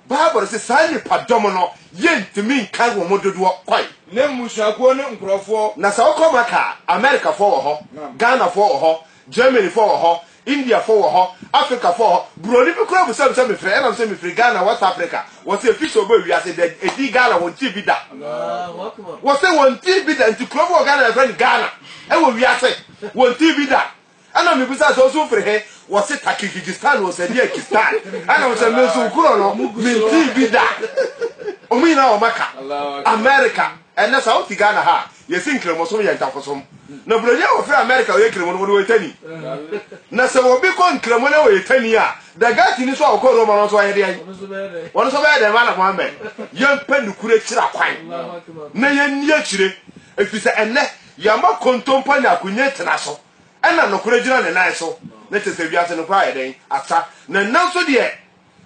Bible se saa nnipadɔm no, yentumi nkan wɔn dodoɔ kwan. Ne mmusuakuo ne nkurɔfoɔ. Na sɛ wokɔ Maka a, Amerikafoɔ wɔ hɔ, Ghanafoɔ wɔ hɔ, Germanyfoɔ wɔ hɔ, Indiafoɔ wɔ hɔ, Afrikafoɔ wɔ hɔ. Buroni bi koraa bisa me sɛ mefiri he, ɛna mese mefiri Ghana, West Africa. Wɔse efi sɛ ɔbɔ wiase da edin Ghana wɔntee bi da. Wɔse wɔntee bi da, nti kuro bi wɔ Ghana a yɛfrɛ no Ghana, ɛwɔ wiase, wɔntee bi da. Ɛna mebisa sɛ ɔso firi he? Wɔse Takikigistan ɔsɛ deɛ Kistan. Ɛna ɔsɛ me nso korɔ no mentee bi da. Ɔmo nyinaa wɔ Maka, Amerika, ɛnɛ saa wote Ghana ha a yɛse Nkramosom yɛ ntafosom. Na Buroni a wɔfrɛ Amerika a ɔyɛ Nkramo no ɔno ɔyɛ Tani. Na sɛ obi kɔ Nkramo na ɔyɛ Tani a, Dagatini nso a ɔkɔ Roma no nso ɔyɛ deɛn? Ɔno nso ɔbɛyɛ dɛn? Malam Mohammed, yɛmpɛ nokorɛ akyiri akwan na yɛnni akyire. Efiri sɛ ɛnɛ Yɛma kontompo nya akonye tena so, ɛna nokore gyina ne nan so. Na kyerɛ sɛ wiase nokore ayɛ dɛn? Asa. Na nnɛ nso deɛ,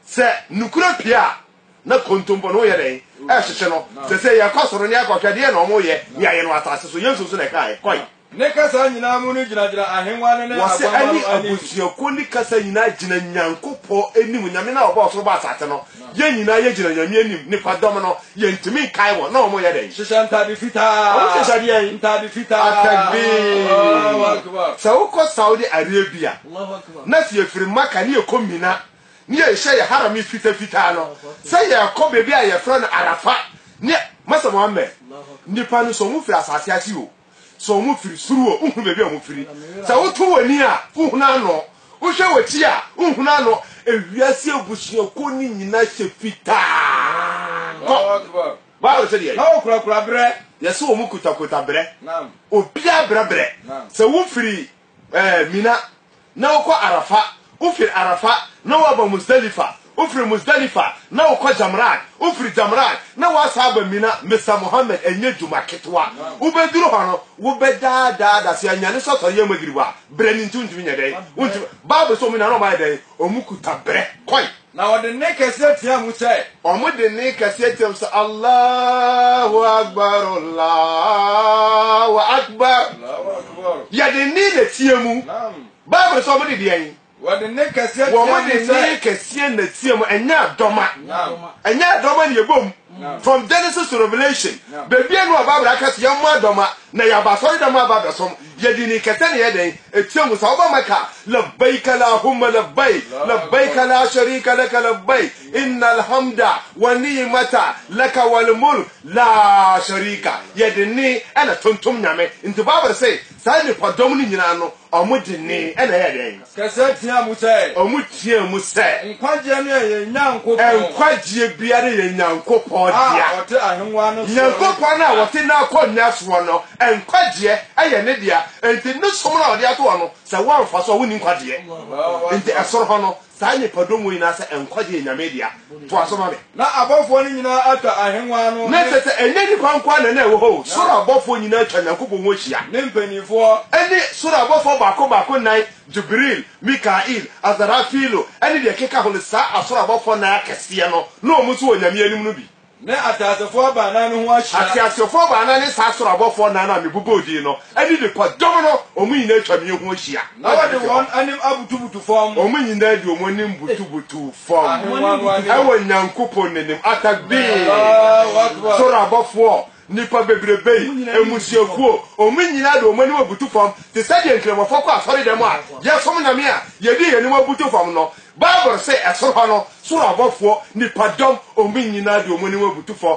sɛ nokore pue a, na kontompo no reyɛ dɛn? Rehyehye no. Sese yɛkɔ soro na yɛkɔhwɛ deɛn na wɔreyɛ de ayɛ no wɔ asase so. Yesu nso na ɛkaeɛ. Kɔe. Ne kasa nyinaa mu no gyinagyina ahennwa no ne Wɔse Aguama ɛne no anim. abusuakuo ne kasa nyinaa gyina Nyankopɔn anim, Nyame no a ɔbɔɔ ɔsoro bɔɔ asase no. Yɛn nyinaa yɛgyina Nyame anim, nipa dɔm no, yɛntumi nkae wɔn, na wɔyɛ dɛn? Hyehyɛ ntade fitaa. Wɔn hyehyɛ deɛn? Ntade fitaa. Atakbir. Sɛ wokɔ Saudi Arabia, na sɛ yɛfiri Maka ne yɛkɔ Mina, ne yɛhyɛ yɛn harami fita fitaa no, sɛ yɛkɔ baabi a yɛfrɛ no Arafa, ne, Masa Muhammad, nipa no sɛ wɔfiri asase ase o, So ɔmo firi soro o, wohu baabi a ɔmo firi? Sɛ woto w'ani a, wohunu ano? Wohwɛ w'akyi a, wohunu ano? Ewiase abusuakuo no nyinaa hyɛ fitaa. Kɔ! Bible sɛ deɛ. Na wɔkurakura berɛ. Yɛse wɔn kuta kuta berɛ. Naam. Obiara brɛ brɛ. Naam. Sɛ wofiri Ɛɛ Mina, na wokɔ Arafa, wofiri Arafa, na woaba Musdalifa, wofiri Musdalifa, na wokɔ Jamraat, wofiri Jamraat, na woasan aba Mina, Mr Mohammed, ɛnyɛ dwuma ketewa. Wobɛduru hɔ no, wobɛdaadaa da, sɛ anyane sɛ ɔsɔre yɛ Maghrib a, berɛ no nti, wontumi nyɛ dɛn? Wontumi. Bible sɛ wɔn nyinaa na wɔayɛ dɛn? Wɔkuta berɛ kɔe. Na wɔde nne kɛseɛ teaa mu sɛ. Wɔde nne kɛseɛ teaa mu sɛ, Allahu Akbar, Allahu Akbar. Yɛde nne na teaa mu. Bible sɛ wɔde deɛn? Wɔde nne kɛseɛ teaa mu sɛ. Wɔde nne kɛseɛ na teaa mu, ɛnyɛ adɔma. Ɛnyɛ adɔma na yɛbɔ mu. From Genesis to Revelation, bebia no ɔba bra kɛse yɛ mmoa dɔm a na yɛ aba asɔre dɛm aba abɛsom yɛ dini kɛse na yɛ dɛn etia mu sa ɔba mɛka labaik alahumma labaik labaik la sharika laka labaik innal hamda wa ni'mata laka wal mulk la sharika yɛ de ne ɛna tontom nyame nti bible se saa nipa dɔm no nyinaa no ɔmo de ne ɛna yɛ dɛn Kɛseɛ teaa mu sɛ. Ɔmo teaa mu sɛ. Nkwagyeɛ no yɛ yɛn Nyankopɔn. Nkwagyeɛ biara yɛ Nyankopɔn dea. A ɔte ahengua no soɔ. Nyankopɔn a ɔte n'akonwa soɔ no nkwagyeɛ yɛ ne dea. Enti ne som no a ɔde atoɔ no, sɛ woamfa so a wonni nkwagyeɛ. Enti ɛsoro hɔ no, saa nnipadɔm wɔ nyinaa sɛ nkwagyeɛ yɛ Nyame dea. Toa so ma me. Na abɔfoɔ no nyinaa atwa ahennwa no ne. Na ɛsɛ sɛ ɛnyɛ nnipa nko ara na na ɛwɔ hɔ o, soro abɔfoɔ nyinaa atwa Nyankopɔn ho ahyia. Ne mpanimfoɔ. Ne soro abɔfoɔ baako baako nnan, Jibril, Mikail, Asarafilu, ne deɛ ɛkeka ho no, saa asoro abɔfoɔ nnan akɛseɛ no, na wɔn nso wɔ Nyame anim no bi. Ne ateasefoɔ baanan no ho ahyia. Ateasefoɔ baanan ne saa asoro abɔfoɔ nnan no a mebobɔɔ din no, ne nnipadɔm no, wɔn nyinaa atwa me ho ahyia. Na wɔde wɔn anim abutubutu fam. Wɔn nyinaa de wɔn anim butubutuu fam ɛwɔ Nyankopɔn n'anim. Atakbir! Soro abɔfoɔ, nnipa bebrebei, mmusuakuo, wɔn nyinaa de wɔn anim abutu fam te sɛ deɛ Nkramofo kɔ asɔredɛm a yɛsom Nyame a yɛde yɛn anim abutu fam no. Bible se ɛsoro hɔ no, soro abɔfoɔ, nnipadɔm, wɔn nyinaa de wɔn anim abutu fam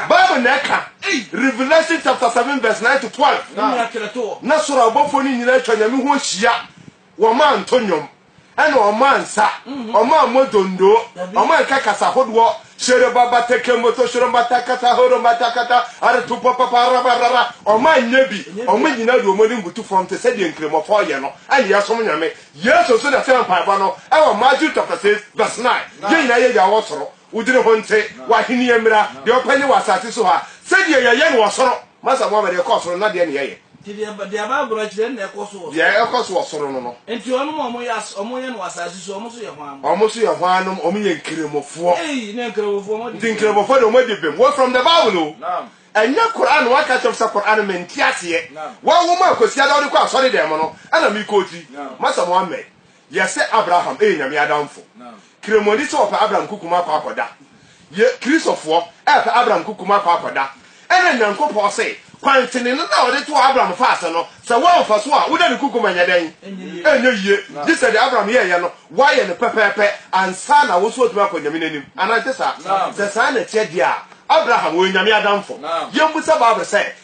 Bible na ɛka, Revelation chapter seven verse nine to twelve. Na soro abɔfoɔ no nyinaa atwa Nyame ho ahyia, wɔmaa nto nnwom, ɛna wɔmaa nsa, wɔmaa mmɔ dondoo, wɔmaa nka kasa hodoɔ, hyerobaba tekemboto shorombata kata horombata kata aretopo papa rabarara, wɔmaa nyɛ bi, wɔn nyinaa de wɔn anim butu fam te sɛ deɛ nkramofo yɛ no, ɛna yɛsom Nyame. Yesu nso na ɛsɛ mpaebɔ no, ɛwɔ Matthew chapter six verse nine, yɛn nyinaa yɛ Agya wɔ soro. Wo dini ho nte, w'ahenni mmra, deɛ wopɛ nyɛ wɔ asase so ha sɛdeɛ yɛyɛ no wɔ soro. Masa Mohammed, deɛ ɛkɔ soro no, na deɛn na yɛyɛ? Nti deɛ Bible no kyerɛ no na ɛkɔ so wɔ soro. Deɛ ɛkɔ so wɔ soro no no. Nti wɔnom a wɔyɛ as, wɔn yɛ no wɔ asase so, wɔn nso yɛ hwan? Wɔn nso yɛ hwannom? Wɔn yɛ Nkramofoɔ. Ei, na Nkramofoɔ wɔn adi bem. Nti Nkramofoɔ deɛ wɔn adi bem. Wɔ from the Bible o. Naam. Ɛnyɛ Qur'aan, wɔn aka kyerɛ me sɛ Qur'aan me nte aseɛ. Naam. Wɔawoma Kwasiada wode kɔ asɔre dan mu no ɛna me kɔ ti. Naam. Masa Mohammed, Yɛ sɛ Abraham yɛ Nyame adamfo. Kremoni sɛ ɔpɛ Abraham kukum akɔ akɔda. Yɛ Kristofoɔ pɛ Abraham kukum akɔ akɔda. Ɛna Nyankopɔn se kwan tenene no a ɔde too Abraham faa ase no sɛ woamfa so a woda no kukum ɛnyɛ dɛn? Ɛnyɛ yie. Gye sɛ deɛ Abraham yɛɛyɛ no woayɛ no pɛpɛɛpɛ ansa na wo nso watumi akɔ Nyame n'anim. Anaa ɛnte saa? Sɛ saa na ɛteɛ deɛ a Abraham ɔyɛ Nyame adamfo. Yɛmmisa Bible sɛ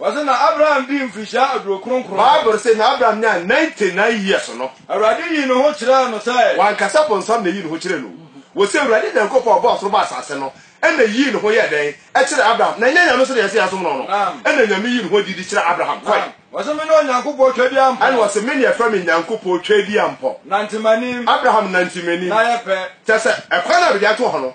Ɔse na Abraham dii mfirihyia aduo kronkron. Bible se na Abraham nyaa ninety nine years no. Awurade yii ne ho kyerɛɛ no sɛ. Wankasa bonsam na eyii ne ho kyerɛɛ no o. Wɔse Awurade Nyankopɔn a ɔbɔɔ ɔsoro bɔɔ asase no na yii ne ho yɛɛ dɛn? Kyerɛɛ Abraham. Na ɛnyɛ Nyame sɛdeɛ yɛse yɛnsom no no. Ɛna Nyame yii ne ho adi de kyerɛɛ Abraham. Kɔe. Ɔse mene Onyankopɔn Twadiampɔ. Ɛna ɔse mene yɛfrɛ me Nyankopɔn Twadiampɔ. Nante m'anim. Abraham nante m'anim. Na yɛ pɛ. Kyerɛ sɛ ɛkwan no a mede ato hɔ no.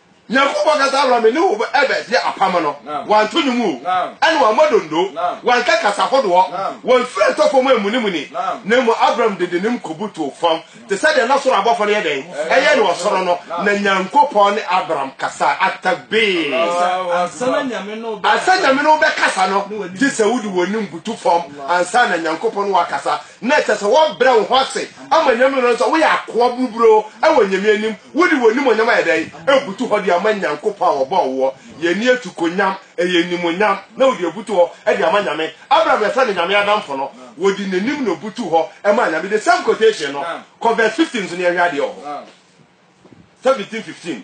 Nyankopɔn kasa ma me ne wo bɛdi apam no, wɔanto nwom o, ɛna wɔammɔ donno, wɔanka kasa hodoɔ, wɔamfiri antɔ fam ammunimuni, na mmom Abram de n'anim kɔbutuo fam, te sɛ deɛ na soro abɔfoɔ no yɛ dɛn? Ɛyɛ no ɔsoro no, na Nyankopɔn ne Abram kasaa. At-Takbeer! Ansa Nyame ne wo bɛkasa no, gye sɛ wode w'anim butu fam, ansa na Nyankopɔn ne wo akasa, na ɛsɛ sɛ wɔbrɛ wo ho ase ma Nyame no sɛ woyɛ akoa buruburoo wɔ Nyame anim, wode w'animuonyam ayɛ dɛn? abutu hɔ de ama Nyankopɔn a ɔbɔɔ woɔ, yɛnni atukonyam, ɛyɛ animuonyam, na wode abutu hɔ de ama Nyame, Abraham yɛfrɛ no Nyame adamfo no, wɔde n'anim na ɔbutuu hɔ maa Nyame, the same quotation no, kɔ verse 15 so na yɛnhwɛ adeɛ wɔ hɔ, 17:15.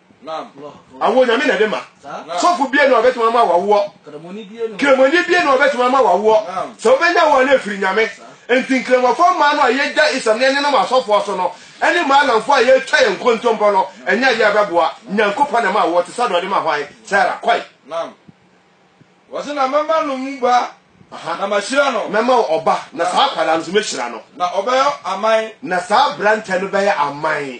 awoɔ nyame na ɛde ma sɔfo bie na ɔbɛtumi ama wawoɔ kramoni bie na ɔbɛtumi ama wawoɔ sɛ wobɛnya woɔ no ɛfiri nyame nti nkramɔfoɔ mmaa no a yɛgya isam ne ɛnenam asɔfoɔ so no ɛne maalamfoɔ a yɛtwa yɛn nkontompɔ no ɛnyɛ adeɛ a ɛbɛboa nyankopɔn na ɛma awoɔ te sɛ deɛ ɔde ma hwan sara kɔe wɔse na mɛma no mu ba na mahyira no mɛma wo ɔba na saa akwadaa no so mɛhyira no na ɔbɛyɛ aman na saa aberantɛ no bɛyɛ aman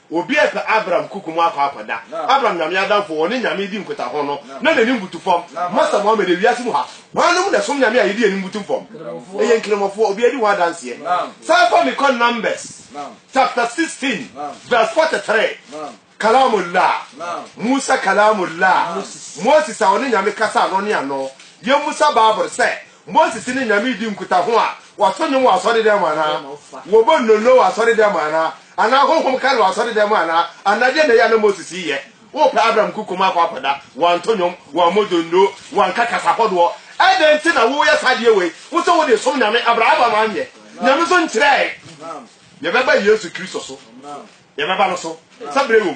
Obi repɛ Abram kuku mu akɔ akɔda. Abram Nyame adamfo wɔ ne Nyame di nkotaho no na n'ani mbutu fam. Masa Mohammed, Ewiase mu ha, hwannom na ɛsom Nyame a yɛde yɛn ani mbutu fam? Ɛyɛ Nkramofoɔ, obiara di ho adanseɛ. San fa me kɔ Numbers chapter 16 verse 43, Kalaamullah, Musa Kalaamullah, Moses a ɔne Nyame kasaa ano ne ano. Yɛmmisa Bible sɛ, Moses ne Nyame redi nkutaho a, wɔto nnwom wɔ asɔredɛm mu anaa? Wɔbɔ nnonno wɔ asɔredɛm mu anaa? Anaa honhom ka no wɔ asɔredɛm mu anaa? Anaa deɛn na ɛyɛ a na Moses reyɛ? Wopɛ Abraham kukum akɔ akɔda, wɔanto nnwom, wɔammɔ donno, wɔanka kasa hɔdoɔ. Ɛdɛn nti na woreyɛ saa adeɛ wei? Wo sɛ wode resom Nyame, Abraham anyɛ. Nyame nso nkyerɛɛe. Yɛbɛba Yesu Kristo so. Yɛbɛba no so, sɛ berɛ wɔ mu.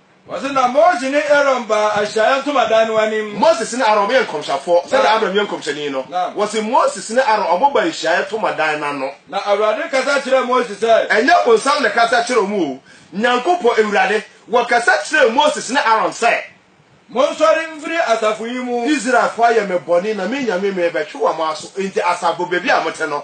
Wɔse na Mose ne Aaron baa ahyiaeɛ ntomadan no anim. Moses ne Aaron wɔyɛ nkɔmhyɛfoɔ sɛdeɛ Na, Abraham yɛ nkɔmhyɛni no. na. Wɔse Moses ne Aaron wɔn baa ahyiaeɛ ntomadan no ano. Na Awurade kasa kyerɛɛ Mose sɛ. Ɛnyɛ bonsam na ɛkasa kyerɛɛ wɔn o, Nyankopɔn, Awurade, wɔkasa kyerɛɛ Moses ne Aaron sɛ. Monsɔre mfiri asafo yi mu. Israelfoɔ ayɛ me bɔne na me Nyame merebɛtwe wɔn aso, enti asafo baabi a mote no,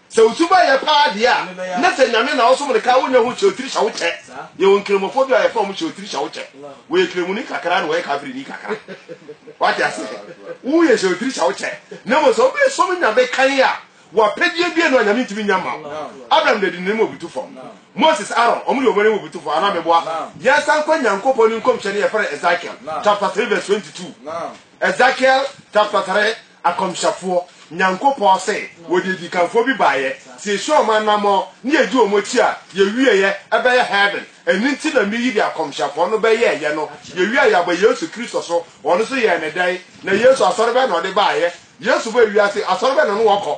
Sɛ wo suban yɛ paa deɛ a, na sɛ Nyame na ɔsom no ka a, wonnya ho kyeotiri hyɛ wo kyɛ. Yɛwɔ Nkramofɔ bi a yɛfrɛ wɔn kyeotiri hyɛ wo kyɛ. Wɔyɛ Kramoni kakra na wɔyɛ Kafirini kakra. Wate aseɛ? Woyɛ kyeotiri hyɛ wo kyɛ. Na mmom sɛ wobesom Nyame kann a, wo apɛdeɛ biara nni hɔ a Nyame ntumi nnya mma wo. Abraham de Adinani ma obutu fam. Moses, Aaron, wɔn de wɔn ani ma obutu fam. Anaa meboa? Yɛnsan nkɔ Nyankopɔn ne Nkɔmhyɛni a yɛfrɛ no Ezekiel chapter three verse twenty two. Ezekiel chapter three. Akɔmhyɛfoɔ, Nyankopɔn se, wɔde adikanfoɔ bi baeɛ, sɛ yɛhyia wɔn anamɔn ne yɛdi wɔn akyi a, yɛwieɛ, ɛbɛyɛ Heaven. Ɛno nti na meyi deɛ akɔmhyɛfoɔ no bɛyɛeɛ no, yɛwie a yɛaba Yesu Kristo so, wɔn nso yɛɛ no dɛn? Na Yesu, Asɔre bɛn na ɔde baeɛ? Yesu ba ewiase, Asɔre bɛn na ɔne wɔn kɔ?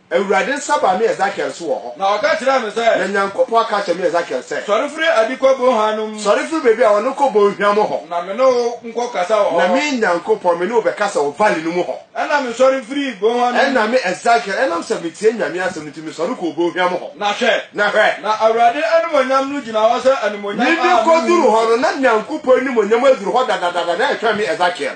Awurade nsa baa me Esekiel so wɔ hɔ. Na ɔka kyerɛɛ me sɛ. Na Nyankopɔn aka akyerɛ me Esekiel sɛ. Sɔre firi adi kɔ bonhwa no mu. Sɔre firi baabi a wɔne kɔ bonhwa mu hɔ. Na me ne wo nkɔ kasa wɔ hɔ. Na me Nyankopɔn, me ne wo bɛkasa wɔ valley no mu hɔ. Ɛnna mesɔre firii bonhwa no mu. Ɛnna me Esekiel, ɛnam sɛ metiee Nyame asɛm no nti, mesɔre kɔɔ bonhwa mu hɔ. Na hwɛ. Na hwɛ. Na Awurade animuonyam no gyina hɔ sɛ animuonyam a menhunuu. Mede kɔduruu hɔ no, na Nyankopɔn animuonyam aduru hɔ dadadada, na ɛretwɛn me Esekiel.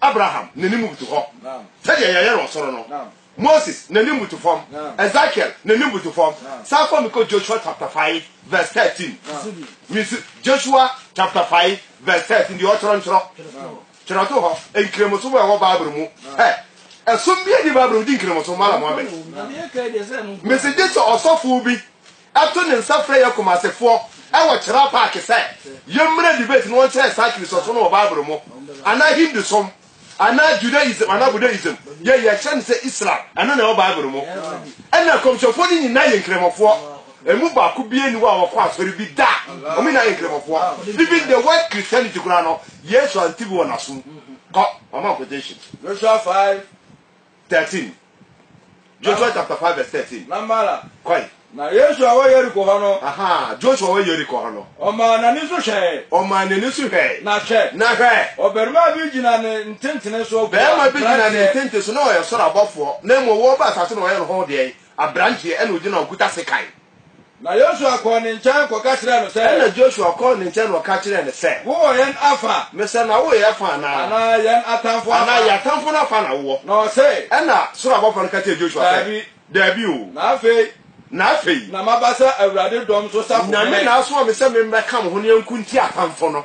Abraham, n'anim butu hɔ. Sɛdeɛ yɛyɛ wɔ soro no. Moses, n'anim butu fam. Ezekiel, n'anim butu fam. San fa me kɔ Joshua chapter five verse thirteen. Misi Joshua chapter five verse thirteen deɛ ɔtwerɛ ntwerɛ. Twerɛ to hɔ nkramosom a ɛwɔ Bible mu. Hɛ, ɛsom bi adi Bible mu di nkramosom Malam Mohammed. Mesi gye sɛ ɔsɔfo bi. to ne nsa frɛ yɛn Kumasefoɔ wɔ Chera Park sɛ yɛmmra debate na wɔnkyerɛ yɛn saa Kristosom no wɔ Bible mu anaa Hindusom anaa Judaism anaa Buddhaism. Yɛn yɛkyerɛ no sɛ Islam, ɛno na ɛwɔ Bible mu. Ɛnna nkɔmhyɛfoɔ no nyinaa yɛ Nkramofoɔ. Ɛmu baako biara nni hɔ a ɔkɔ asɔre bi da. Wɔn nyinaa yɛ Nkramofoɔ. Even the word Christianity koraa no, Yesu ante bi wɔ n'asom. Kɔ, ɔma quotation. Joshua five 13. Joshua chapter 5 verse 13. Na mara. Kɔe. Na Yesu a wɔ Yeriko hɔ no. Aha, Joshua wɔ Yeriko hɔ no. Ɔmaa n'ani so hwɛe. Ɔmaa n'ani so hwɛe. Na hwɛ. Na hwɛ. Ɔbarima bi gyina ne ntentene so. Barima bi gyina ne ntentene so na ɔyɛ soro abɔfoɔ, na mmom wɔba asase na ɔyɛ ne ho deɛn? Aberanteɛ, ɛna ɔgyina ɔkuta sekan. Na Yosua kɔɔ ne nkyɛn kɔka kyerɛɛ no sɛ. Ɛnna Josua kɔɔ ne nkyɛn na ɔka kyerɛɛ no sɛ. Wowɔ yɛn afa. Mesɛ na wowɔ yɛn afa anaa? Anaa yɛn atamfo afa? Anaa yɛn atamfo no afa na wowɔ? Na ɔse. Ɛnna soro abɔfoɔ no ka kyerɛɛ Josua sɛ. Daabi. Daabi o. Na afei. Na afei. Na maba sɛ Awurade dɔm so safo hene. Nyame na asoma me sɛ memmɛka mo ho na yɛnko ntia atamfo no.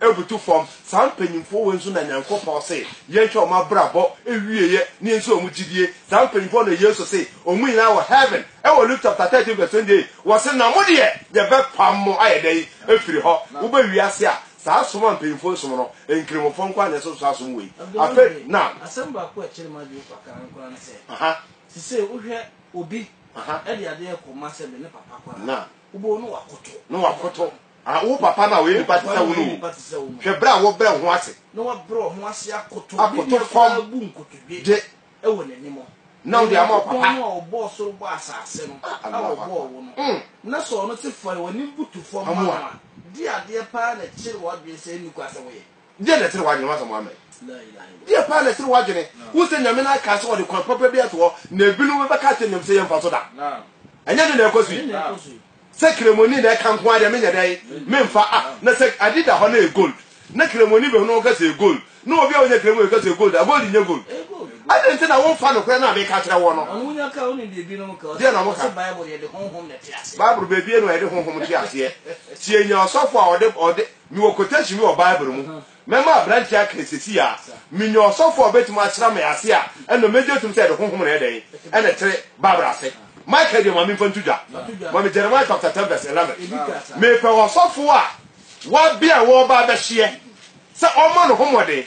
abutu fam. Saa mpanyimfoɔ wei nso na Nyankopɔn se yɛnhwɛ wɔn abrabɔ awieɛ na yɛnsi wɔn gyidie. Saa mpanyimfoɔ na Yesu se wɔn nyinaa wɔ Heaven. Ɛwɔ Luke chapter 13 verse 28, wɔse, Na mo deɛ yɛbɛpam mo ayɛ dɛn afiri hɔ? Woba wiase a, saa som a mpanyimfoɔ som no, Nkramofoɔ nko ara na ɛsɛ so saa som wei. Afei, naam. Asɛm baako a ɛkyere m'adwene kakra nko ara ne sɛ, seesei wohwɛ obi de adeɛ rekɔma sɛ me ne papa kɔ a, Wobɛhu na woakoto. Na woakoto. Ah, wo papa no a ɔyɛ nipa te sɛ wo no o, hwɛ berɛ a wɔbrɛ wo ho ase. Na wabrɛ wɔn ho ase akoto. Akoto fam. Ne nua bu nkotodwe. De. Wɔ n'anim. Na wode ama wo papa. Onyankopɔn no a ɔbɔɔ soro bɔɔ asase no. Ah, Allah. A ɔbɔɔ wo no. Mm. Na sɛ ɔno te fɔre, w'anim butu fam ma no a, di adeɛ paa na kyere w'adwene sɛ ɛnni kwan sɛ woyɛ. Deɛ na ɛsene w'adwene, w'asɛm wɔ amen? Deɛ paa na ɛsene w'adwene? Wohu sɛ Nyame no akaa sɛ ɔde kwan papa bi ato hɔ na ebinom bɛka akyerɛ Nyame sɛ yɛmfa so da? Ɛnyɛ ɛno na ɛrekɔ so yi? Sɛ kremoni na ɛka nko ara deɛ menyɛ dɛn? Memfa a! Na sɛ ade da hɔ na ɛyɛ gold na kremoni bɛhunu ho ka sɛ ɛyɛ gold na obi a ɔnyɛ kremoni ka sɛ ɛyɛ gold a, gold nyɛ gold? Adɛn nti na womfa nokorɛ no a meka kyerɛ woɔ no? Deɛ na wɔka? Bible baabi nie na wɔde honhom te aseɛ. Tie nea ɔsɔfo a ɔde Mewɔ quotation bi wɔ Bible mu. Mɛma aberanteɛ aka no seesei ara. Menya ɔsɔfo a ɔbɛtumi asra me ase a, ɛnna mɛgye atom sɛ ɛde honhom na ɛyɛ dɛn? Ɛna ɛtere Bible ase. Michael deɛ ma memfa nto dwa. Ma me Jeremiah chapter ten verse eleven. Mepɛ ɔsɔfo a wabea a ɔreba abɛhyeɛ sɛ ɔmma no ho mmɔden.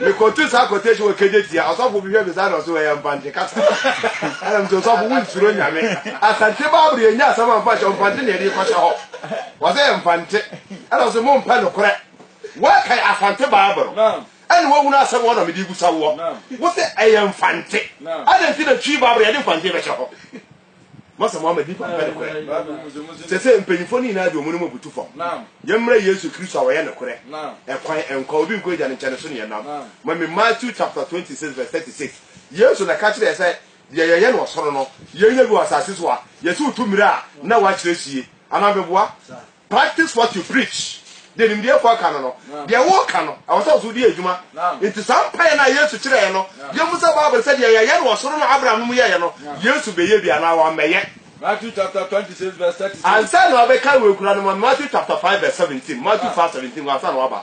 Mekɔto saa quotation wɔ Kejetia, ɔsɔfo bi hwɛ me saa na ɔse wɔyɛ mpante kasa. Ɛna mese ɔsɔfo wo nsuro nyame. Asante Bible yɛ nya asɛm amfa hyɛ mpante na yɛde kɔhyɛ hɔ. Wɔse yɛ mpante. Ɛna ɔse mo mpɛ nokorɛ. Wɔkae Asante Bible. Ɛna wɔhunu asɛm wɔ na mede rebusa woɔ. Wose ɛyɛ mfante. Adɛn nti na Twi Bible yɛde mfante bɛhyɛ hɔ? Mo sɛ mo ama nnipa mpɛ nokorɛ. Sɛsɛ mpanyinfoɔ no nyinaa de wɔn anim abutu fam. Yɛmmrɛ Yesu Kristo a ɔyɛ nokorɛ, ɛkwan, nkwa, obi nkɔ Agya no nkyɛn no so ne yɛn nam. Ma me Matthew chapter twenty six verse thirty six. Yesu na ɛka kyerɛ yɛn sɛ deɛ yɛyɛ no ɔsoro no, yɛnyɛ bi wɔ asase so a, yɛsi wo tu mmerɛ a na woakyerɛ sie. Anaa meboa? Practice what you preach. Deɛ nimdeɛfoɔ ka no no, deɛ woka no, ɛwɔ sɛ wo so wode yɛ adwuma. Enti saa mpaeɛ no a Yesu kyerɛeɛ no, yɛhu sɛ Bible sɛ deɛ yɛyɛ no ɔsoro no Abraham nom yɛeɛ no, Yesu bɛyɛ bi anaa wammɛyɛ? Matthew chapter twenty six verse thirty six. Ansa na wabɛka wɔ akura no mu, Matthew chapter five verse seventeen, Matthew five seventeen, ansa na waba.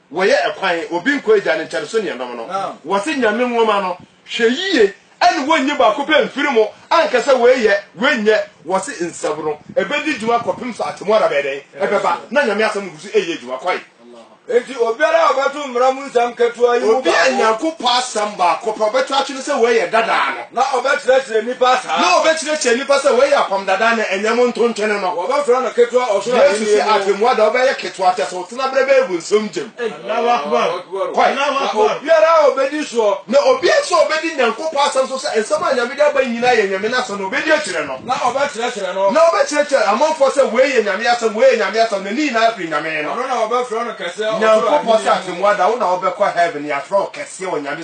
Wɔyɛ ɛkwan, obi nkɔ agya no nkyɛn so ne ɛnom no. Wɔse Nyame nwoma no, hwɛ yie ɛne wɔnyi baako pɛ mfiri mo, anka sɛ wei yɛ, wei nyɛ. Wɔse nsɛm no, ɛbɛdi dwuma kɔpem sɛ atemmuada bɛyɛ dɛn? Ɛbɛba, na Nyame asɛm no gu so ɛyɛ adwuma. Kɔe. Enti obiara a ɔbɛto mmara mu nsɛm ketewa yi mu baako. Obi a Nyankopɔ asɛm baako pɛ ɔbɛto atwene sɛ wei yɛ dadaa no, Na ɔbɛkyerɛkyerɛ nnipa saa. Na ɔbɛkyerɛkyerɛ nnipa sɛ wei yɛ Apam Dada no, ɛnyɛ mo ntontwene no. Wɔbɛfrɛ no Ketewa Ɔsoro Ahennie no. Yesu se Atemmuo da wobɛyɛ ketewa, kyerɛ sɛ wo tenaberɛ bɛyɛ bu nsɛm gyam. Kɔe. Na obiara a ɔbɛdi soɔ. Na obiara nso a ɔbɛdi Nyankopɔn asɛm so sɛ nsɛm a Nyame de aba yi nyinaa yɛ Nyame n'asɛm no, ɔbɛdi akyire no. Na ɔbɛkyerɛkyerɛ no. Na ɔbɛkyerɛkyerɛ amanfoɔ sɛ wei yɛ Nyame asɛm, wei yɛ Nyame asɛm, na ne nyinaa firi Nyame no. Ɔno na wɔbɛfrɛ no Kɛseɛ Ɔsoro Ahennie no. Nyankopɔn se Atemmuo da wo na wobɛkɔ Heaven, yɛafrɛ wo Kɛseɛ wɔ Nyame.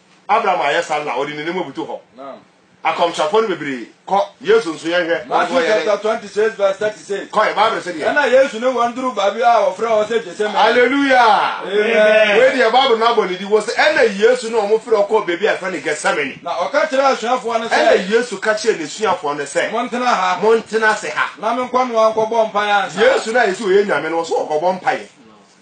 Abraham ayɛ saa na ɔde n'anim abutu hɔ. Akɔmhyɛfoɔ no bebree kɔ. Yesu nso, yɛnhwɛ. Matthew chapter twenty six verse thirty six. Kɔɛ Bible sɛ deɛ. Ɛna Yesu ne wɔn duru baabi a wɔfrɛ hɔ sɛ Gethsemane. Hallelujah. Amen. Wei deɛ Bible no abɔ ne di wɔ sɛ ɛna Yesu ne wɔn frɛ ɔkɔɔ baabi a yɛfrɛ no Gethsemane. Na ɔka kyerɛɛ asuafoɔ no sɛ. Ɛna Yesu ka kyerɛɛ n'asuafoɔ no sɛ. Montena ha. Montena ase ha. Na menkɔnoa nkɔbɔ mpaeɛ ansa. Yesu no a yɛsi ɔyɛ Nyame no, ɔso ɔkɔbɔ mpaeɛ.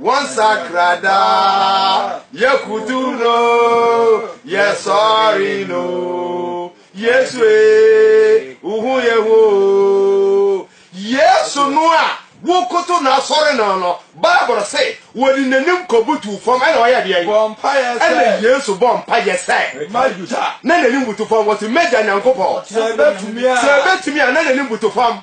Wɔn sakra daa, yɛ kutu no, yɛ sɔre no. Yesu ee, uhu yɛ ho. Yesu no a wokoto na asɔre no no, Bible se wɔde n'anim kɔbutu fam ɛna ɔyɛ deɛ. Bɔ mpaeɛ sɛ. Ɛna Yesu bɔ mpaeɛ sɛ. Magya. Na n'anim butu fam, wɔsi Magya Nyankopɔn. Sɛ ebetumi a. Sɛ ebetumi a, na n'anim butu fam.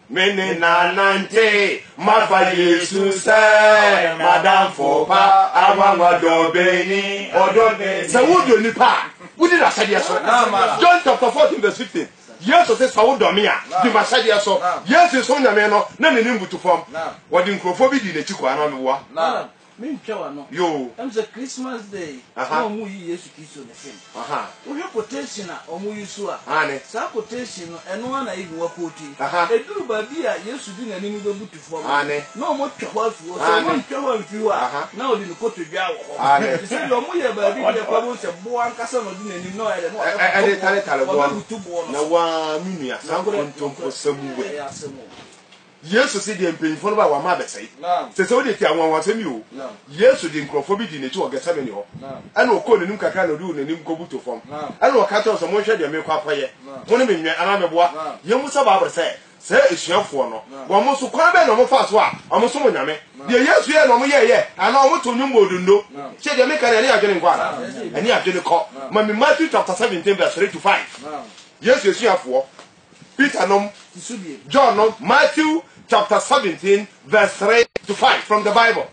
Me ne n'anante, mafa Yesu sɛ m'adamfo pa, anwanwa dɔbɛni, ɔdɔ bɛ. Sɛ wodɔ nnipa a, wodi n'ahyɛdeɛ so. John chapter 14 verse 15. Yesu se sɛ wodɔ me a, di m'ahyɛdeɛ so. Yesu som Nyame no, na n'ani mbutu fam. Wɔde nkurɔfoɔ bi dii n'akyi kɔɔ anaa ɔmeboa? Mentwa w'ano ɛm sɛ Christmas day na ɔmo yi Yesu Kristo ne film. Wo hwɛ quotation a ɔmo use a, saa quotation no ɛno ara na Yehowa quote. Ɛduru baabi a Yesu de n'anim bɛbutu fɔm no, na ɔmo twa hɔ afi hɔ. Sɛ ɔmo antwa hɔ amfi hɔ a, na ɔde ne kotodwe awɔ hɔ. Te sɛ deɛ ɔmo yɛ baabi bi a ɛkɔ abom sɛ boɔ ankasa na ɔde n'anim na ɔyɛ dɛ na ɔbɛbutu boɔ no so. Nokorɛ, nokorɛ ɛyɛ asɛm o. Yesu se deɛ mpanyimfoɔ no ba a wɔama abɛsɛe. Sese wodeɛ tie anwanwasɛm yi oo. Yesu de nkurɔfoɔ bi dii n'akyi wɔ Gethsemane hɔ. Ɛna ɔkɔɔ n'anim kakra na ɔduu n'anim kɔbuto fam. Ɛna ɔka kyerɛ wɔn sɛ, Monhwɛ deɛ merekɔ akɔyɛ. Mo ne me nwɛn anaa meboa? Yɛmmisa Bible sɛ, saa asuafoɔ no, wɔn nso, kwan bɛn na wɔfaa so a wɔsom Onyame? Deɛ Yesu yɛe no wɔyɛeɛ anaa wɔtoo nnwom bɔɔ donno? Tie deɛ meka no, ɛne adwene nkɔ anaa? Ɛne adwene kɔ. Ma me Matthew chapter seventeen verse three to five. Yesu asuafoɔ Peter nom, John nom, Matthew chapter seventeen verse three to five from the Bible.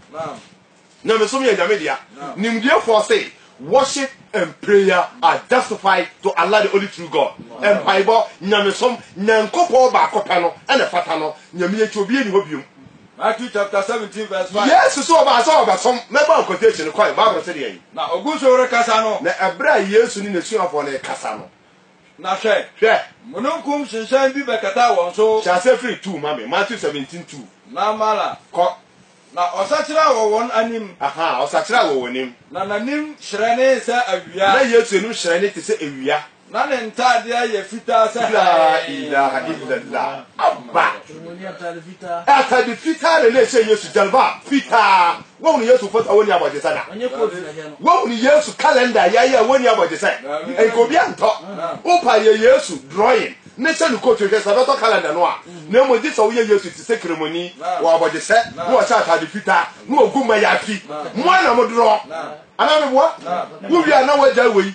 Nyamesom yɛ Nyame dea. Nimdiefoɔ se, Worship and prayer are justified to Allah the only true God. Mpaebɔ, Nyamesom, Nyankopɔn baako pɛ no na ɛfata no, Nyame akyi obiara nni hɔ biom. Matthew chapter seventeen verse five. Yesu se ɔbaa sɛ ɔbɛsom, mɛbɔ quotation no kɔe, Bible se deɛn? Na ɔgu so rekasa no. Na ɛberɛ a Yesu ne n'asuafoɔ no rekasa no, Na hwɛ! Hwɛ! Mununkum hyehyɛn bi bɛkataa wɔn so. Hyɛ aseɛ firi two ma me, Matthew seventeen two. Na mara. Kɔ. Na ɔsakyera wɔ wɔn anim. Aha, ɔsakyera wɔ wɔn anim. Na n'anim hyerɛnee sɛ awia. Na Yesu anim hyerɛnee te sɛ awia. Na ne ntaadeɛ yɛ fitaa sɛ hann. Laa ilaaha illallah. Abba! Atade fitaa na na ɛhyɛ Yesu, jalbab, fitaa. Woahunu Yesu foto a wonni abɔgyesɛ da? Woahunu Yesu kalɛnda a yɛayɛ a wonni abɔgyesɛ? Nka obi antɔ wo pa yɛ Yesu drawing ne hyɛ no coat hwɛ sɛ ɛbɛtɔ kalɛnda no a, na mmom gye sɛ woyɛ Yesu te sɛ Kremoni wɔ abɔgyesɛ na ɔhyɛ atade fitaa na ogu mmayafi. Mmoa na modraw anaa meboa? Wowie a na woagyae wei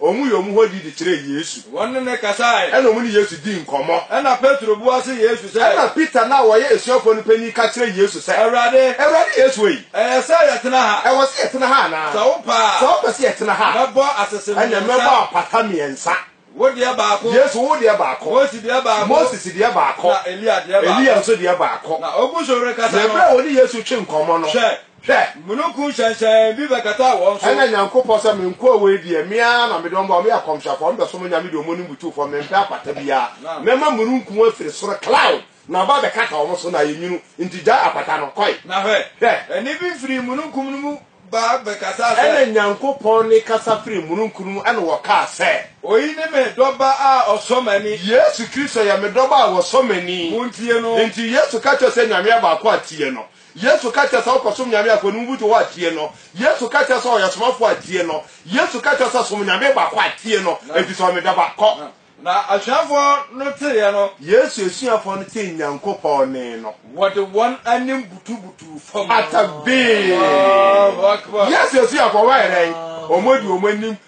Wɔn yɛ wɔn hɔ di de kyerɛɛ Yesu. Wɔne no kasae. Ɛnna wɔne Yesu dii nkɔmmɔ. Ɛnna Petro bua se Yesu sɛ. Ɛnna Peter no a ɔyɛ asuafoɔ no panin ka kyerɛɛ Yesu sɛ. Awurade. Awurade Yesu ei. Ɛyɛ sɛ yɛtena ha. Ɛwɔ sɛ yɛtena ha anaa? Sɛ wopɛ a. Sɛ wopɛ sɛ yɛtena ha a. Mɛbɔ asese mmiɛnsa. Ɛnna mɛbɔ apata mmiɛnsa. Wo deɛ baako. Yesu, wo deɛ baako. Mose deɛ baako. Moses deɛ baako. Na Elia deɛ baako. Elia nso deɛ baako. Na ɔgu so rekasa no. Na ɛberɛ a wɔne Yesu retwe nkɔmmɔ no. Hwɛ! Hwɛ! Mununkum hyɛnhyɛnn bi bɛkataa wɔn so. Ɛnna Nyankopɔn se, Menkɔɔ woi deɛ, me ara na mede wɔn baa hɔ, meyɛ akɔmhyɛfoɔ, mebɛsom Nyame deɛ wɔn ne Bo tu fam, mempɛ akwata biara. Mɛma mununkum afiri soro, cloud, na aba abɛkata wɔn so, na ayɛ nwunu, enti gyae akwata no, kɔe. Na hwɛ! Hwɛ! Ɛnne bi firii mununkum no mu baa bɛkasaa sɛ. Ɛnna Nyankopɔn nne kasa firii mununkum no mu, ɛnna wɔkaa sɛ. Oyi ne me Dɔba a ɔsɔ m'ani. Yesu Kristo yɛ me Dɔba a ɔsɔ m'ani. Montie no. Enti Yesu ka kyerɛɛ sɛ, Nyame yɛ baako a tie no. Yesu ka kyerɛ sɛ wokɔsom nyame afɔre no, wobutu hɔ a, tie no. Yesu ka kyerɛ sɛ ɔyɛ ɔsomafo a, tie no. Yesu ka kyerɛ sɛ som nyame baako a, tie no, efisɛ ɔyɛ me dɔba. Kɔ. Na asuafo no teeɛ no. Yesu asuafo no tee Nyankopɔn nne no. Wɔde wɔn anim butubutuu fam. Atabee! Yesu asuafo, wɔayɛ dɛn? Wɔde wɔn anim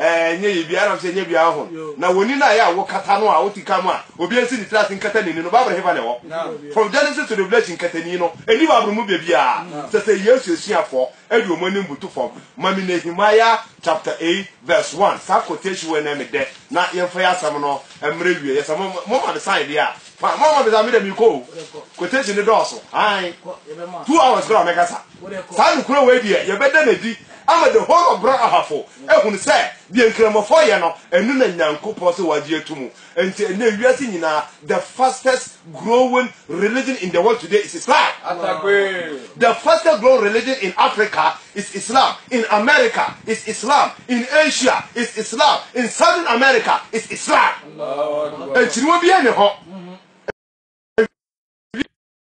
Ɛɛ, nyɛ yɛ biaa, ɛnam sɛ nyɛ biaa ho no. Na w'ani no a ɛyɛ a wokata no a wote ka mu a obiaa nsi ne tiri ase nkata n'ani no, Bible hefa na ɛwɔ? From Genesis to Revelation, nkatani no nni Bible mu baabiaa. Sɛ sɛ Yesu asuafoɔ de wɔn anim butu fam, ma me Nehemiah chapter eight verse one, saa quotation wei na ɛmɛ dɛ, na yɛmfa yɛ asɛm no mmra awieɛ. Sɛ mo mo ma me sign deɛ a, fine, mo amma me sign a, me deɛ merekɔ o. Quotation no dɔɔso, aane, two hours koraa mɛkasa. Saa nokorɛ wei deɛ yɛbɛda no adi ama the whole of Bra Ahafo ahunu sɛ deɛ Nkramofɔ yɛ no ɛno na Nyankopɔn sɛ wagye ato mu. Nti ɛnnɛ wiase nyinaa the fastest growing religion in the world today is Islam. The fastest growing religion in Africa is Islam, in America is Islam, in Asia is Islam, in Southern America is Islam. Nkyiriwa biara nni hɔ.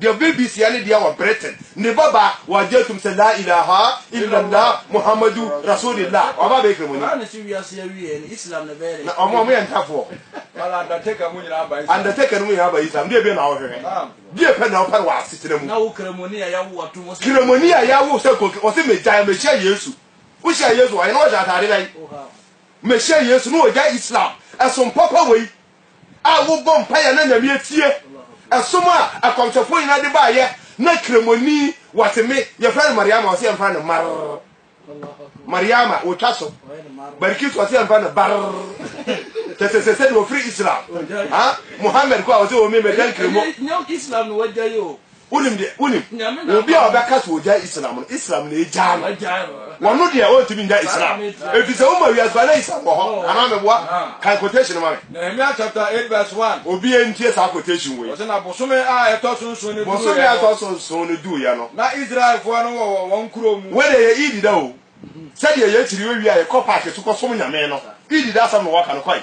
Deɛ ɔbɛ bi sia ne deɛ wɔ Britain ne ba ba wɔ gye tum sɛ laa ilaaha illallah Muhammadu Rasuulillah waba abɛyɛ kramoni na ɔmo ɔmo yɛ ntafoɔ and undertaker no mo nyinaa aba Islam deɛ bɛn na wo hwehwɛ deɛ pɛ na wo pɛ no wɔ asetena mu kramoni a yawo sɛ koki ɔse me gyae me hyia Yesu wo hyia Yesu wɔ he na ɔhyɛ ataade bɛn me hyia Yesu na ɔgyae Islam ɛsom papa wei a wobɔ mpae a na Nyame atie, ɛsom a akɔmhyɛfoɔ nyinaa de baayɛ, na kramoni wateme, yɛfrɛ no Mariama, wɔse yɛmfrɛ no Mar. Mariama, wɔtwa so. Barikis wɔse yɛmfrɛ no Bar. Kyɛ sɛ sɛ sɛdeɛ wɔfiri Islam. Ha? Mohammed kɔ a wɔse wɔmemɛgya nkramo. Wonim deɛ, wonim, obi a ɔbɛka so ɔgyae Islam no, Islam na ɛgyaa no. Wɔno deɛ ɔntumi nya Islam. Ɛfiri sɛ woma wiase ba na Islam wɔ hɔ. Anaa meboa? Kan quotation no ma me. Nehemia chapter 8 verse 1. Obiara ntie saa quotation wei. Ɔse na bosome a ɛtɔ so nson no duruiɛ no. Bosome a ɛtɔ so nson no duruiɛ no. Na Israelfoɔ no wɔ wɔ wɔn nkuro mu. Wei deɛ yɛ Eid da o. Sɛdeɛ yɛkyiri owia a yɛkɔ park so kɔsom Nyame no, Eid da asɛm na wɔka no, kɔe.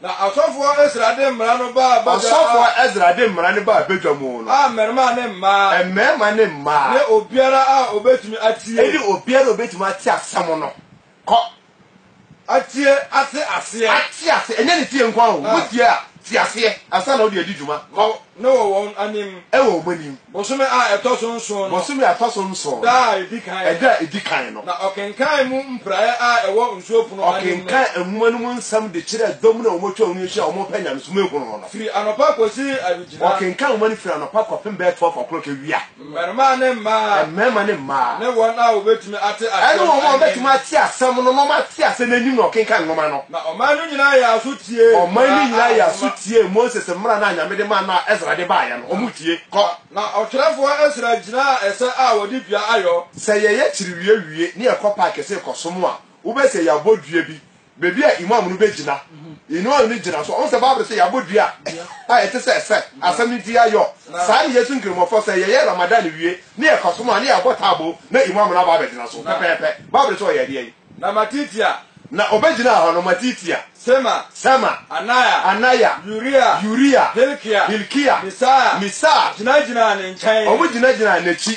Na ɔsɔfoɔ Esra de mmara no baa badwa a. Ɔsɔfoɔ Esra de mmara no baa badwa mu no. A mmarima ne mmaa. Mmarima ne mmaa. Ne obiara a ɔbɛtumi atie. Ne obiara a ɔbɛtumi ate asɛm no. Kɔ. Atie, ate aseɛ. Ate aseɛ, ɛnyɛ ne tie nko ara o. Wotie a, te aseɛ ansa na wode adi dwuma. Kɔ. No wɔ wɔn anim. Ɛwɔ wɔn anim. Bosome a ɛtɔ so nson no. Bosome a ɛtɔ so nson no. Da a edi kan. Ɛda a edi kan no. Na ɔkenkan mu mpraeɛ a ɛwɔ nsuo pono anim no. Ɔkenkan nwoma no mu nsɛm de kyerɛɛ dɔm no a wɔatwa wɔn ho ahyia a wɔrepɛ nyamesom ahunu no no. Firi anɔpa kɔsi awigyina. Ɔkenkan nwoma no firi anɔpa kɔpem bɛyɛ twelve o'clock awia. Mmarimaa ne mmaa. Mmarima ne mmaa. Ne wɔn a wɔbɛtumi ate asɛm. Ɛne wɔn a wɔbɛtumi ate asɛm no na wɔate asɛm no anim na wɔkenkan nwoma no. Na ɔman no nyinaa yɛɛ aso tiee. Ɔman no nyinaa yɛɛ aso tiee Moses mmara no a Nyame de mae no a Esra de baeɛ no. Wɔtie. Kɔ. Na ɔtwerɛfoɔ Esra gyinaa ɛsɛ a wɔde dua ayɔ. Sɛ yɛyɛ kyerewiewie ne yɛkɔ park sɛ rekɔsom a, wobɛhu sɛ yɛabɔ dua bi Baabi a Imam no bɛgyina. Imam no gyina so. Ɔhu sɛ Bible no sɛ yɛabɔ dua a ɛte sɛ sɛ asɛm no ti ayɔ. Saa ne Yesu nkramofoɔ sɛ yɛyɛ Ramadan wie ne yɛkɔsom a ne yɛabɔ taabo na Imam no aba abɛgyina so pɛpɛɛpɛ. Bible no sɛ ɔyɛ ɛdeɛn? Na Matitia. Na ɔbɛgyinaa hɔ no, Matitia. Sema. Sema. Anaya. Anaya. Uria. Uria. Hilkia. Hilkia. Misaia. Misaia. Gyinagyinaa ne nkyɛn. Wɔgyinagyinaa n'akyi.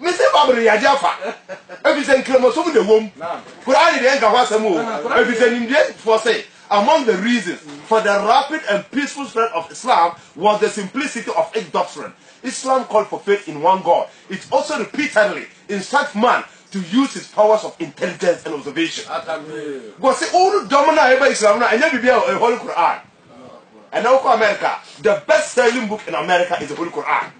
Mese Babylon yɛ adeɛ afa, ɛfiri sɛ nkramosom na ɛwɔ mu. Koraa ne deɛ nka ho asɛm o, ɛfiri sɛ nimdeɛfoɔ se, Among the reasons for the rapid and peaceful spread of Islam was the simplicity of its doctrine. Islam called for faith in one God. It also repeatedly instructs man to use his powers of intelligence and observation. Wɔse wo no dɔm no a ɛba Islam no a ɛnyɛ biribi a ɛyɛ Holy Quran. Ɛnɛ wokɔ America, the best selling book in America is the Holy Quran.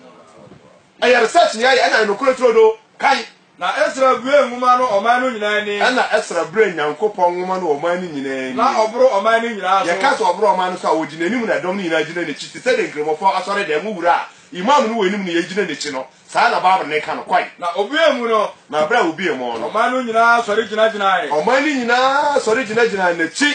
Ɛyɛ research na yɛayɛ ɛna nokorɛ turo do kan. Na Esra buee nwoma no ɔman no nyinaa ani. Ɛna Esra brɛɛ Nyankopɔn nwoma no wɔ ɔman no nyinaa ani. Na ɔboro ɔman no nyinaa so. Yɛka sɛ ɔboro ɔman no so a, wɔgyina anim na ɛdɔm no nyinaa gyina n'akyi, te sɛdeɛ Nkramofo asɔredan mu wura a Imam no wɔ anim na yɛgyina n'akyi no, saa ara na Bible no ka no. Kɔe. Na obuee mu no. Na berɛ a obuee mu no. Ɔman no nyinaa sɔre gyinagyinae. Ɔman no nyinaa sɔre gyinagyinaa n'akyi.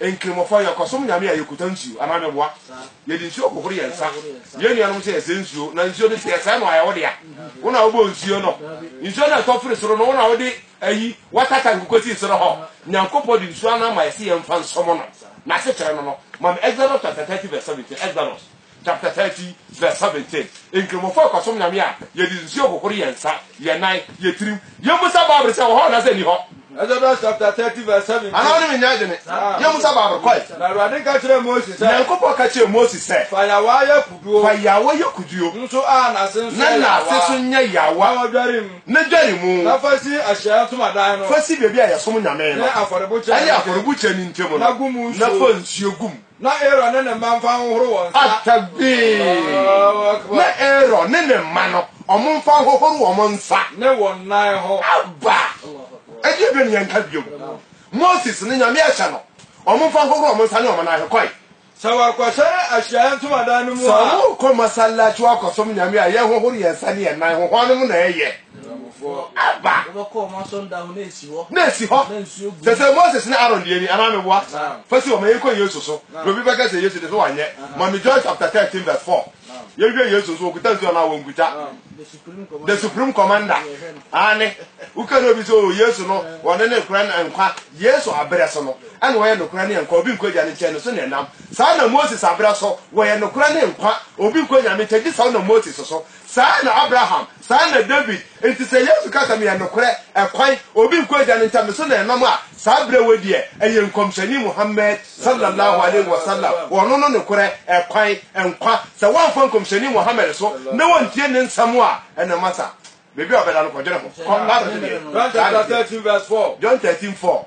Nkramofo, yɛkɔsom nyame a yɛkuta nsuo anaa meboa. Yɛde nsuo hohoro yɛn nsa. Yɛn nuanom nso yɛsɛ nsuo, na nsuo no sɛ yɛsɛ no a ɛyɛ wo dea. Wo na wobɔɔ nsuo no. Nsuo no a ɛtɔ firi soro no, wo na wode ayi water tank kɔsii soro hɔ. Nyankopɔn de nsuo anan ma yɛse yɛmfa nsɔm no. N'asekyerɛ no no, ma me Exodus chapter thirty verse seventeen, Exodus Chapter thirty verse seventeen, Nkramofo a kɔsom nyame a yɛde nsuo hohoro yɛn nsa, yɛn nan, yɛn tirim, yɛmmisa Bible sɛ ɛwɔ hɔ anaasɛ ɛnni hɔ. Exodus chapter thirty verse seventeen. Anaa wɔne me nyɛ adwene, yɛmmisa Bible kɔe. Na Awurade nka kyerɛɛ Mose sɛ. Nyankopɔn ka kyerɛɛ Mose sɛ. Fa yaawa yɛ kuduo. Fa yaawa yɛ kuduo. Nso a n'ase nso yɛ yaawa. Na n'ase nso nyɛ yaawa. Na dware mu. Na dware mu. Na fa si Ahyiaeɛ Ntomadan no. Fa si baabi a yɛsom nyame no. Ne afɔrebukyia no ntam. Ne afɔrebukyia no ntam no. Na gu mu nsuo. Na fa nsuo gu mu. Na Aaron ne ne mma mfa nhohoro wɔn nsa. Atabee! Na Aaron ne ne mma no, wɔn mfa nhohoro wɔn nsa. Ne wɔn nan ho. Aba! Ɛdi ɛdɔ ne yɛn nka bio. Moses ne Nyame ahyɛ no, wɔn mfa nhohoro wɔn nsa ne wɔn nan ho. Kɔe. Sɛ wɔakɔhyɛne ahyiaeɛ ntomadan no mu a. Sɛ wɔrekɔ masallaci wɔakɔsom Nyame a, yɛnhohoro yɛn nsa ne yɛn nan ho. Hwannom na ɛyɛ. ɛba na esi hɔ sɛ sɛ moses ne aaron deɛ ni anaa meboa fa si hɔ ma yɛnkɔ yesu so na obi bɛka sɛ yesu de so wanyɛ ma me john chapter 13 verse 4 yɛhwɛ yesu nso wɔkuta nsuo anaa wɔnkuta the supreme commander ane woka ne obi sɛ o oh, yesu no wɔne ne nkora ne nkwa yesu aberɛ so no ɛna wɔyɛ nokora ne nkwa obi nkɔ agya ne nkyɛn no so ne ɛnam saa na moses aberɛ so wɔyɛ nokora ne nkwa obi nkɔ nyame nkyɛn gye saa na moses so Saa na Abraham, saa na David, nti sɛ Yesu ka sɛ meyɛ nokorɛ, ɛkwan, obi nkɔ Agya no nkyɛn, me so na ɛnam a, saa berɛ wei deɛ ɛyɛ Nkɔmhyɛni Muhammad, Salla Laahu Alaihi Wasallam, ɔno no nokorɛ, ɛkwan, nkwa, sɛ woamfa Nkɔmhyɛni Muhammad so na woantie ne nsɛm a, ɛnneɛ masa, baabi a ɔbɛda no kɔdwene ho, kɔ, Bible no deɛ, saa na ɛteɛ, John thirteen four.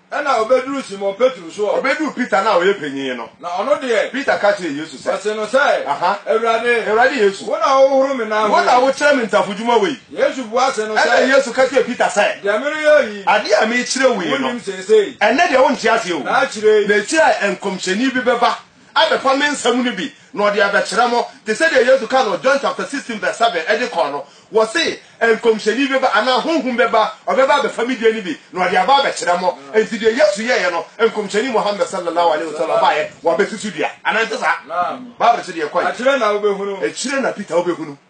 Ɛnna obeduruu Simon Petro so ɔ. Obeduu Peter no a ɔyɛ panyin no. Na ɔno deɛ. Peter ka kyerɛɛ Yesu sɛ. Ɔsee no sɛ. Aha. Awurade. Awurade Yesu. Wo na wohohoro me nan ho yi. Wo na wokyerɛ me ntafodwuma wɔ yi. Yesu bua see no sɛ. Ɛnna Yesu ka kyerɛɛ Peter sɛ. Deɛ mereyɛ wo yi. Adeɛ a merekyerɛ wo yi no. Wonnim seesei. Ɛnnɛ deɛ wonte aseɛ o. Na akyire yi. Na akyire a nkɔmhyɛni bi bɛba. abɛfa me nsɛm no bi na ɔde abɛkyerɛ mo, te sɛdeɛ Yesu kaa no wɔ John chapter sixteen verse seven de kɔɔ no, wɔse, Nkɔmhyɛni bɛba, anaa Honhom bɛba, ɔbɛba abɛfa me deɛ no bi na ɔde aba abɛkyerɛ mo. Enti deɛ Yesu yɛeɛ no, Nkɔmhyɛni Muhammad sallallahu alaihi wasallam ɔbaeɛ, wɔ abɛsusu dua. Anaa ɛnte saa? Bible se deɛ ɛkɔeɛ. Akyire na wobɛhunu. Akyire na Peter wobɛhunu.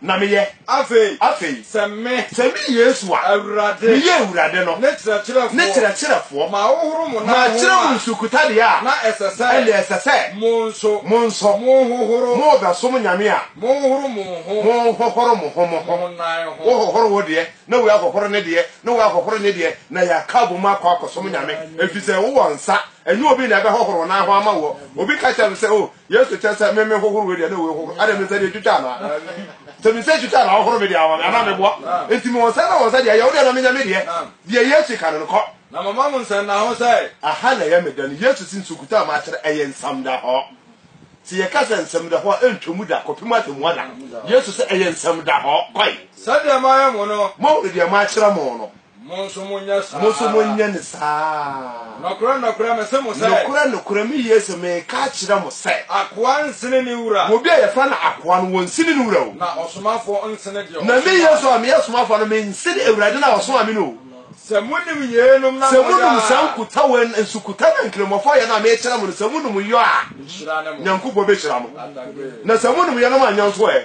na meyɛ. Afei, Afei, sɛ me, sɛ me Yesu a Awurade, meyɛ Awurade no ne kyerɛkyerɛfoɔ, ne kyerɛkyerɛfoɔ, mahohoro mo nan ho makyerɛ mo a, nsukutadeɛ a, na ɛsɛ sɛ ɛnna ɛsɛ sɛ mo nso mo nso mohohoro, morebɛsom nyame a, mohohoro mo ho, mohohoro mo ho mo ho. mo nan ho. Wohohoro wo deɛ, na wei ahohoro ne deɛ, na wei ahohoro ne deɛ, na yɛaka abom akɔ akɔsom nyame, ɛfiri sɛ wowɔ nsa, ɛnyɛ obi na ɛbɛhohoro wo nan ho ama woɔ. Obi ka kyerɛ me sɛ, Oh, Yesu kyerɛ sɛ meme hohoro wei deɛ na wei hohoro adɛ mesɛ deɛ twitwa anaa sɛ mesɛ twitwa na ahohoro me deɛ ama me anaa meboa enti me wɔn sɛ na wɔn sɛ deɛ yɛ wo deɛ na menya me deɛ deɛ Yesu ka no no kɔ na mama mo nsɛm na ho sɛ aha na ɛyɛ me da no Yesu si nsukuta a makyerɛ ɛyɛ nsɛm da hɔ sɛ yɛka sɛ nsɛm da hɔ a ɛntwa mu da kɔpem atɛmu ada Yesu sɛ ɛyɛ nsɛm da hɔ kɔe sɛdeɛ mayɛ mo no mo deɛ makyerɛ mo no Mo nso monyɛ saa ara. Mo nso monyɛ no saa ara. Nokorɛ, nokorɛ, mese mo sɛ. Nokorɛ, nokorɛ, me Yesu, mereka akyerɛ mo sɛ. Akoa nsene ne wura. Obi a yɛfrɛ no akoa no, ɔnsene ne wura o. Na ɔsomafoɔ nsene deɛ ɔsomaa no. Na me Yesu a meyɛ ɔsomafoɔ no, mensene Awurade no a ɔsomaa me no o. Sɛ monim yeinom na moyɛ a. Sɛ monom saa nkuta wei, nsukuta no a Nkramofoɔ yɛ no a mekyerɛ mo no, sɛ monom yɔ a. Nhyira ne mo. Nyankopɔn bɛhyira mo. Na sɛ monom yeinom anyɛ nso ɛ?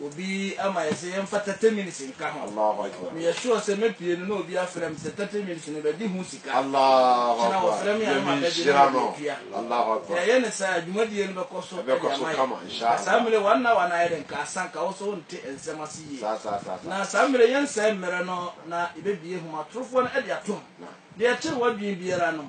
Obi ama yɛn sɛ yɛmfa thirty minutes nka ho. Meyɛ sure sɛ mɛpue no na obi afrɛ me sɛ thirty minutes no bɛgye ho sika. Kyena wɔfrɛ me a na mabɛgye na mede atua. Yɛyɛ no saa a, dwumadie no bɛkɔ so de ama yɛn. Na saa mmerɛ yi one hour no ayɛ dɛ nka asa, nka wo nso wonte nsɛm ase yie. Na saa mmerɛ yi yɛnsɛe mmerɛ no na yɛbɛbue nhomatorofoɔ no de atom. Deɛ ɛkyere w'adwene biara no,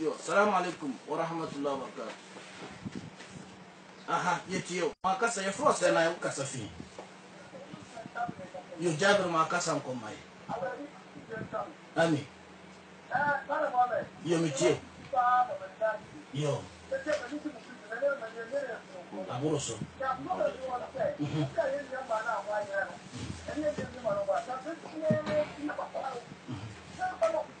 Yo, Salaam Alaikum Warahmatullahi Wabarakatuh. Aha, yɛtie wo. Makasa, yɛfrɛ wo sɛn na wo kasa fi? Yo, Jabir Makasa nkɔ mma yɛ. Ami. Yo, metie wo. Yo. Aboro so. Mhm. Mhm.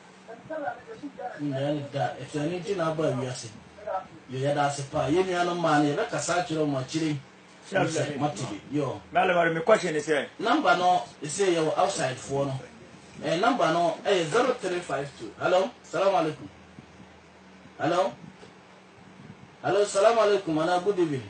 Yɛnnya no da. Ɛte ɛno nti na aba wiase. Yo, yɛda ase paa. Yɛn nuanom mmaa no, yɛbɛkasa akyerɛ wɔn akyire yi. Ɛne sɛ, moate bi. Yo. Mɛlɛ wari me question ne sɛ. Number no, ɛsɛ yɛwɔ outside foɔ no. Eh, number no, ɛyɛ 0352. Hello, salaam alaikum. Hello? Hello, salaam alaikum, anaa good evening.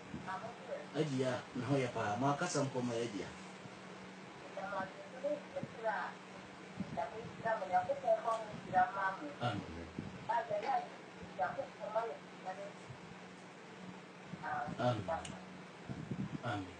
Adua, ne ho yɛ paa. Mo akasa mpo ma adua. Amen. Amen.